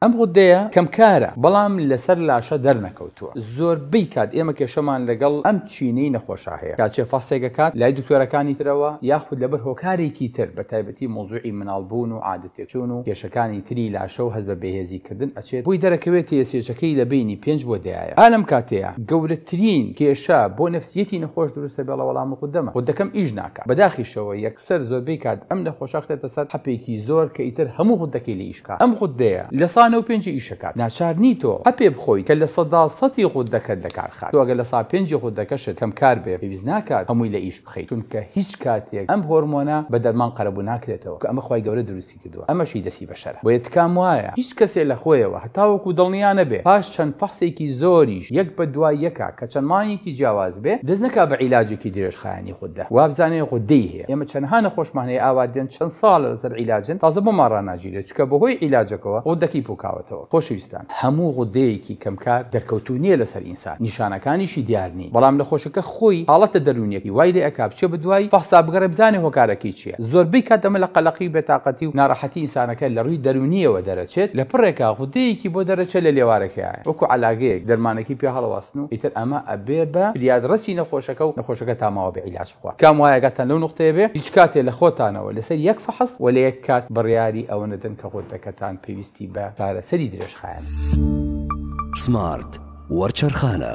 ئەم غودەیە کەمکارە بەڵام لەسەر لاشە دەرنەکەوتووە، زۆربەی کات ئێمە کێشەمان لەگەڵ ئەم چینەی نەخۆشە هەیە کە ئەچێ فەحسێک ئەکات لای دکتۆرەکانی ترەوە یاخود لەبەر هۆکارێکی تر بەتایبەتی مەوزوعی مناڵ بوون و عادە تێکچوون و کێشەکانی تری لاشە و هەست بە بێهێزی کردن ئەچێت بۆی دەرەکەوێ تێسێچەکەی لە بەینی پێنج بۆ دەیایە ئا لەم کاتەیا گەورەترین کێشە بۆ نەفسیەتی نەخۆش دروست ئەبێڵە وەڵام غودەمە غودەکەم ئیش ناکات بەداخیشەوە سەر زۆربەی کات ئەم نەخۆشە خرێتە سەر حەپێکی زۆر کە ئیتر هەموو غوددەکەی لێ ئیشکا ئەم غوددەیە لە سا نۆ پێنجی ئیشەکات ناچار نی تۆ حەپێ بخۆیت کە لە سەدا سەتی غوددەکەت لە کار خات تۆ ئەگەر لە سا پێنجی غوددەکەشت کەم کار بێ پێویست ناکات هەمووی لە ئیش بخەیت چونکە هیچ کاتێک ئەم هۆرمۆنە بە دەرمان قەرەبوو ناکرێتەوە کە ئەمە خوای گەورە دروستی کردووە ئەمەشی دەستی بەشەرە بۆیە تکام وایە هیچ کەسێ لەخۆیەوە هەتاوەکو دڵنیا نەبێ پاش چەند فەحسێکی زۆریش یەک بەدوای یەکا کە چەند مانگێکی جیاواز بێ دەست نەکا بە عیلاجێکی درێژخایەنی غوددە وابزانێ غوددەی هەیە ئێمە چەنها نەخۆشمان هەیە ئاوا دێن چەند ساڵە لەسەر عیلاجن تازە بۆمان ڕاناگیرێ چونکە بەهۆی عیلاجەکەوە غوددەکەی پوکاوەتەوە خۆشەویستان هەموو غوددەیەکی کەمکار دەرکەوتوو نیە لەسەر سات نیشانەکانیشی دیار نین بەڵام نەخۆشەکە خۆی حاڵەتە دەروونیەکەی وای لێ ئەکا بچێ بە دوای فەحسا بگەڕێ بزانێ هۆکارەکەی چیە زۆربەی کات ئەمە لە قەلەقی و بێتاقەتی و ناڕەحەتی ئینسانەکە لە ڕووی دەروونیەوە دەرەچێت لە پڕێکا غودەیەکی بۆ دەرەچێت لە لێوارەکەیایە وەکو عەلاگەیەک دەرمانەکەی پێ هەڵەواستن و ئیتر ئەمە ئەبێ بە فریادڕەسی نەخۆشەکە و نەخۆشەکە تا ماوە بێ عیلاج کام وایە ئاگاتان لەو نوقتەیە بێ هیچ کاتێ لە خۆتانەوە لەسەر یەک فەحس و لە یەک کات بڕیاری ئەوە نەدەن کە غدەکەتان پێویستی بە چارەسەری درێژخایەنە. سمارت وەرچەرخانە.